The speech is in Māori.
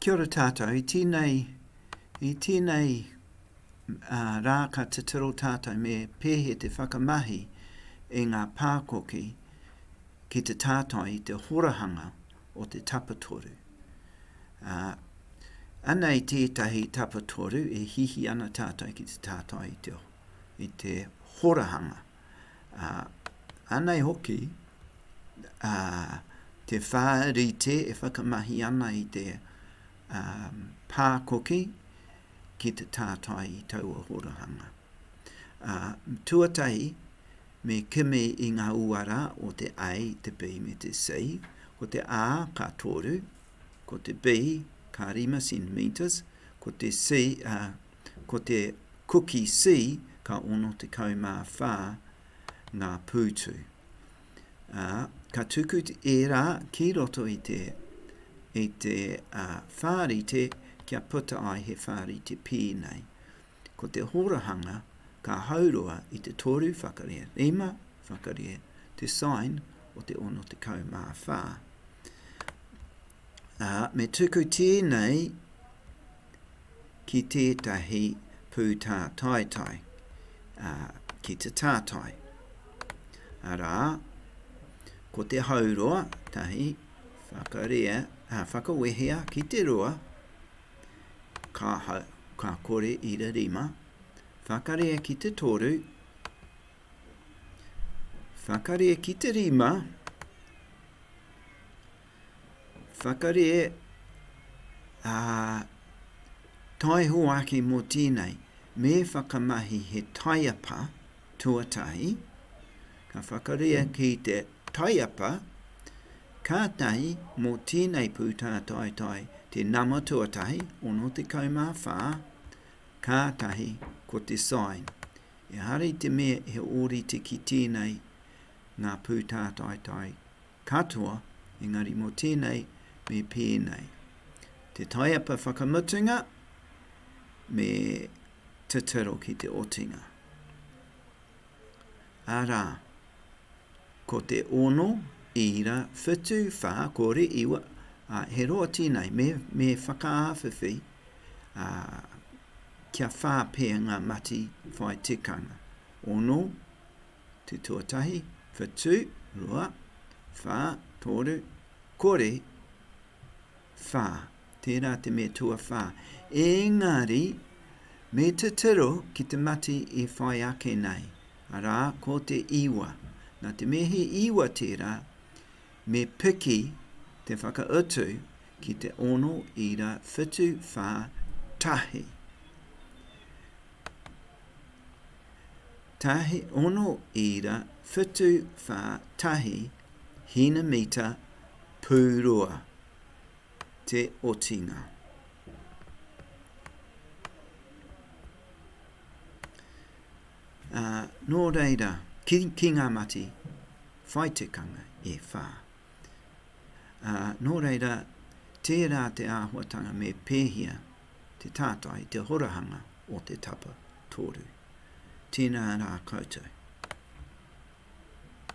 Kia ora tātou, i tēnei, i tēnei uh, rā ka titiro tātou me pēhe te whakamahi e ngā pākoki ki te tātai i te horahanga o te tapatoru. Uh, anei tētahi tapatoru e hihi ana tātou ki te tātai i te, i te horahanga. ā, anei hoki, ā, te whā rite e whakamahi ana i te, ā, pā koki ki te tātai i taua horahanga. Ā, tuatahi, me kimi i ngā uara o te A, te B me te C, ko te A ka toru, ko te B ka rima centimetres, ko te C, ā, Ko te Kuki C ka 64 ngā pūtu, ā, ka tuku ērā ki roto i te, i te uh, whārite kia puta ai he whārite pī nei. Ko te horahanga ka haurua i te toru whakaria, rima whakaria, te sign o te 64. ā, me tuku tēnei ki tētahi pūtātaitai, ā, ki te tātai. Arā, ko te hauroa, tahi, whakarea, ā, whakawehea ki te roa, ka, ka kore i ra rima, whakarea ki te toru, whakarea ki te rima, Whakarē, ā, tae hoaki mō tēnei, me whakamahi he taiapa tuatahi, ka whakarea ki te taiapa, kātahi mō tēnei pūtātaetae te nama tuatahi, 64, kātahi ko te sign. Ehara i te mea he ōrite ki tēnei ngā pūtātaetae katoa, engari mō tēnei me pēnei. Te taiapa whakamutunga me titiro ki te otinga. Arā, ko te ono, ira, whitu, whā, kore, iwa, ā, he roa tēnei, me, me whakaawhiwhi, ā, kia whā pea ngā mati whai tikanga. Ono, te tuatahi, whitu, rua, wha, toru, kore, wha, tērā te me tuawha. Ēngari, me titiro ki te mati i whai ake nei, arā, ko te iwa. Nā te mea he iwa tērā, me piki te whakautu ki te ono, ira, whitu, wha, tahi. tahi ono ira whitu wha tahi hina mita pu rua te otinga. Ā, nō reira, ki, ki ngā mati, whai tikanga e whā. Ā, nō reira, tērā te āhuatanga me pēhia te tātai, te horahanga o te tapa toru. Tēnā rā koutou.